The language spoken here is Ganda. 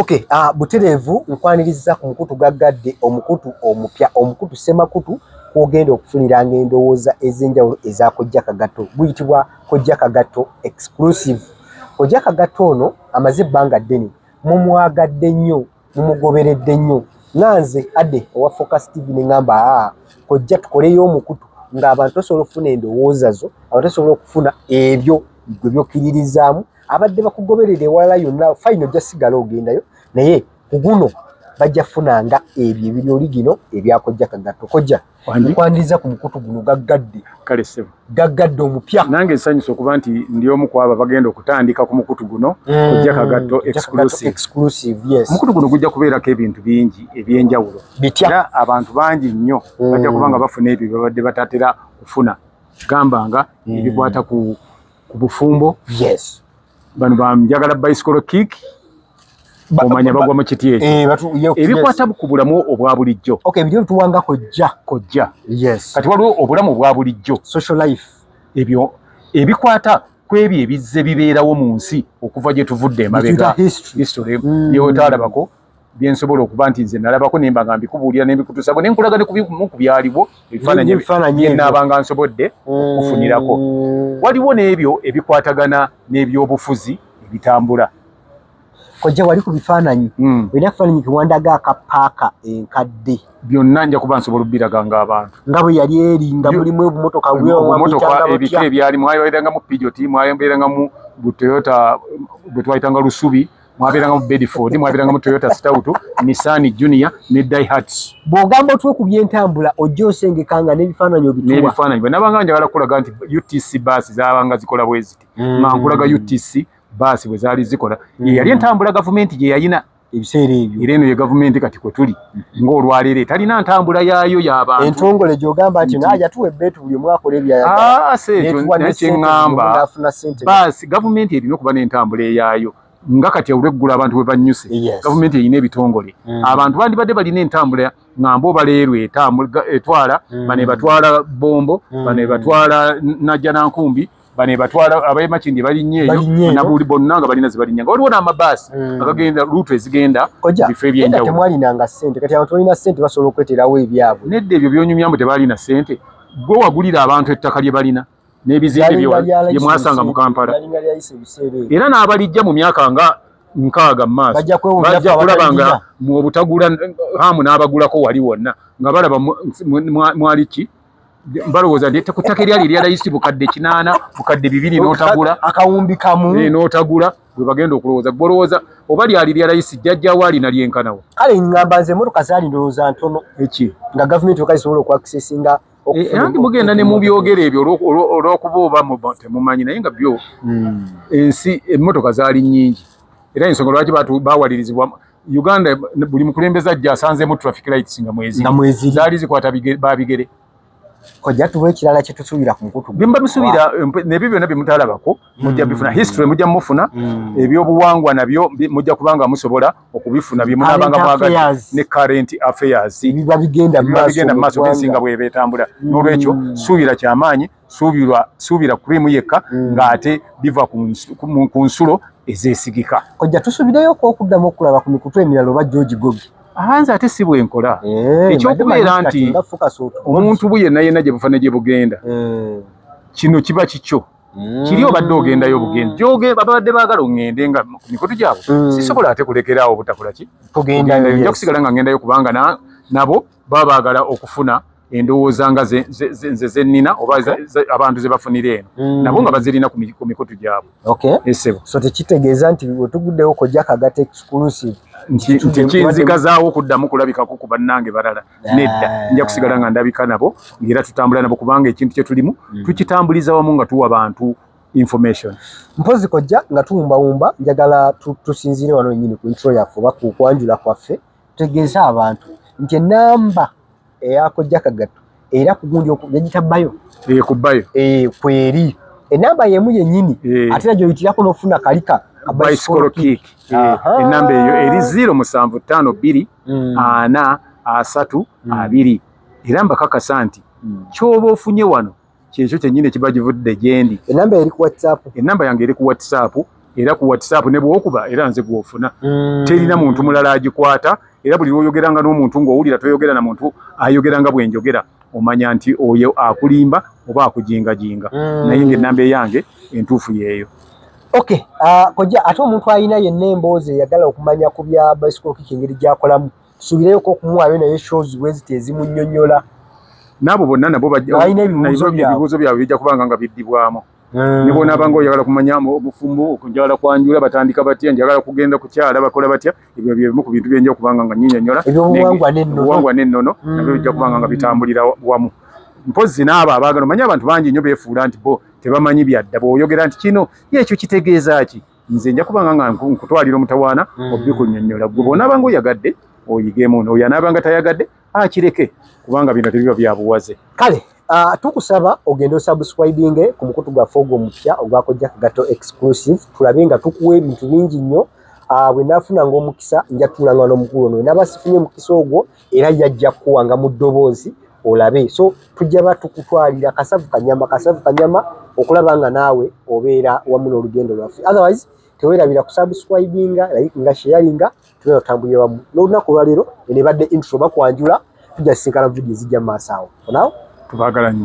Okay, uh, butereevu nkwaniriza ku mukutu gaggadde omukutu omupya omukutu ssemakutu kwogenda okufuniranga endowooza ez'enjawulo eza kojja kagatto guyitibwa kojja kagatto exclusive kojja kagatto ono amaze ebbanga ddene mumwagadde nnyo mumugoberedde nnyo nga nze ade owa focus tv ne ngamba aa kojja tukoleyo omukutu ng'abantu osobola okufuna endowooza zo abantu osobola okufuna ebyo gwe byokiririzaamu abadde bakugoberera ewalala yonna fayina ojja sigala ogendayo naye kuguno bajja funanga ebyo ebiri oli gino ebyakojja kagatto kojja nkwaniriza ku mukutu guno gaggadde kale sebo gaggadde omupya nange nsanyusa okuba nti ndi omu kwabo abagenda okutandika ku mukutu guno mm, kojja kagatto exclusive yes omukutu guno gujja kubeerako ebintu bingi ebyenjawulo bitya era abantu bangi nnyo mm. bajja kuba nga bafuna ebyo byebabadde batatera kufuna gamba nga mm. ebikwata ku ku bufumbo yes bano bamjagala bicycle kick omanya bagwa mu kiti ekyo eh, ebikwata ku bulamu obwa bulijjo okay byo tuwanga kojja kojja yes kati waliwo obulamu obwa bulijjo social life ebyo ebikwata kwebyo ebizze bibeerawo mu nsi okuva gye tuvudde emabega history mm. yewetaalabako byensobola okuba nti nze nalabako nemba nga mbikubuulira nembikutusako ne nkulaga nekubimu ku byaliwo ebifaananyi byenaabanga nsobodde mm. okufunirako waliwo n'ebyo ebikwatagana n'ebyobufuzi ebitambula kojja wali ku bifaananyi mm. olina kufaananyi kiwandaga akapaaka enkadde byonna nja kuba nsobola obbiraga nga abantu nga bwe yali eri nga mulimu obumotoka bwobumotoka ebika ebyalimu mwabeerangamu pijoti mwabeerangamu bu toyota bwe twayitanga lusubi mwabiranga mu Bedford mwabiranga mu Toyota Stout Nissan Junior ne Daihatsu bwogamba otwe ku byentambula ojja osengekanga n'ebifaananyi obituwa n'ebifaananyi bwe nabanga njagala kulaga nti UTC bus zaabanga zikola bweziti mm. nga nkulaga UTC bus bwe zaali zikola mm. yali entambula gavumenti gye yayina ebiseera ebyo era eno ye gavumenti kati kwe tuli ng'olwaleero etalina ntambula yaayo y'abantu entongole gy'ogamba nti naye yatuwa ebbeetu buli omu akola ebyayagalaekyeŋŋamba ah, baasi gavumenti erina okuba n'entambula eyaayo nga kati olweggula abantu bwe bannyuse gavumenti erina ebitongole mm. abantu bandibadde balina entambula nga mboba leero etwala mm. bano ebatwala bombo mm. bano ebatwala najja nankumbi bane batwala abaye makindi balinye eyo na buli bonna nga balina zibalinya nga waliwo n'amabaasi mm. agagenda luutu ezigenda bifo ebyenjawulo temwalinanga ssente kati abantu balina ssente basobola okweterawo ebyabwe nedda ebyo byonyumyamu tebaalina ssente gwe wagulira abantu ettaka lye balina n'ebizimbe bye mwasanga mu kampala era n'abalijja mu myaka nga nkaaga mumaaso bajja kulaba nga mu obutagula hamu n'abagulako wali wonna nga balaba mwali ki balowooza nti ku ttaka eryali erya layisi bukadde kinaana bukadde bibiri n'otagula akawumbi kamu eh, n'otagula bwe bagenda okulowooza gbolowooza oba lyali lya layisi jjajjawo alina lyenkanawo kale ngamba nze emotoka zaali ndowooza ntono eki nga gavumenti oka isobola okuakisesinga eh, eh, anti mugenda ne mubyogera ebyo olw'okuba oba temumanyi naye nga byo hmm. ensi emmotoka zaali nnyingi era ensonga lwaki bawalirizibwa Uganda buli mukulembeza ajja asanzemu traffic lights nga mwezi nga mwezi zali zikwata babigere kojja tuwe kirala kye tusubira ku mukutu bimba bisubira nebyo byona bimutala bako mujja mm. bifuna history mujja mufuna mm. ebyo buwangwa nabyo mujja kubanga musobola okubifuna bye munabanga mwaga ne current affairs biba bigenda maso biba bigenda maso bisinga bwe betambula mm. nolwekyo subira kya maanyi suubirwa suubira cream yekka mm. ng'ate biva ku nsulo ezeesigika kojja tusubireyo okokuddamu okulaba ku mikutu emirala oba george gogi ahanze ate si bwenkola eh, ekyokubeera nti omuntu bu yenna yenna gye bufana gye bugenda eh. kino kiba kikyo mm. kiri obadde ogendayo obugenda gyoge babadde baagala oŋŋende nga ku mikutu gyabwe mm. sisobola ate kulekeraawo obutakola ki kugendayo nja kusigala nga ŋŋendayo kubanga nabo baba baagala okufuna endowooza nga nze zennina oba abantu ze bafunira eno mm. nabo nga bazirina ku mikutu gyabwe esebo so tekitegeeza nti wetuguddewo kojja kagata exclusive nti kinzigazaawo okuddamu kulabikako ku bannange balala nedda nja kusigala nga ndabika nabo ngaera tutambula nabo kubanga ekintu kye tulimu mm. tukitambuliza wamu nga tuwa bantu information mpozi kojja nga tuwumbawumba njagala tusinziire wano wenyini ku ntro yaffe oba kukwanjula kwaffe Tutegeeze abantu nti enamba eyakojja kagatto era kugundi yagita bayo eh, ku bayo eh, kweri enamba yemu yenyini eh. ate nagyoyitirako nofuna kalika bicycle kick enamba eyo eri zero musanvu tano biri hmm. ana asatu hmm. abiri era mbakakasa nti hmm. kyoba ofunye wano kyekyo kyennyini ekiba givudde gyendi enamba eri ku whatsapp enamba yange eri ku whatsapp era ku whatsapp ne bwokuba era nze gwofuna mm. terina muntu mulala agikwata era buli lwoyogeranga n'omuntu ng'owulira toyogera na muntu ayogera nga bwenjogera omanya nti oyo akulimba oba akujingajinga mm. naye nga enamba eyange entuufu yeeyo ok uh, ah, koja ate omuntu alina yenna emboozi eyagala okumanya ku bya bicycle kiki engeri gyakolamu Subireyo ko kumuwayo naye shows bweziti ezimunyonyola. Nabo bonna nabo bajja ebibuuzo byabwe bijja kubanga nga biddibwamu. Mm. Ne bwona abanga oyagala kumanya obufumbo okunjala kwanjula batandika batya njagala kugenda kukyala bakola batya ebyo bye bimu ku bintu byenja okubanga nga nyinyonyola obuwangwa n'ennono mm. nabyo bijja kubanga nga bitambulira wamu mpozi n'abo abaagala omanya abantu bangi nnyo beefuula nti bo tebamanyi byadda bw'oyogera nti kino yeekyo kitegeeza ki nze nja kubanga nga nkutwalira omutawaana mm. obikunyonyola gwe bwonaabanga oyagadde oyigemu nooyo anaabanga tayagadde akireke kubanga bino tebiba byabuwaze kale ah, tukusaba ogende osubscribinge ku mukutu gwaffe ogwo omupya ogwakojja kagato exclusive tulabe nga tukuwa ebintu bingi nnyo ah, bwe naafuna ngaomukisa njatuulanga n'omukulu ono naba sifunye omukisa ogwo era yajja kukuwanga mu ddoboozi olabe so tujja ba tukutwalira kasavu kanyama kasavu kanyama okulaba nga naawe obeera wamu n'olugendo lwaffe otherwise tewerabira kusubscribinga like nga sharinga tubeera otambulira wamu n'olunaku olwaleero enebadde intro bakwanjula tujja sisinkana vidiyo ezijja mu maaso awo onawo tubagala nyo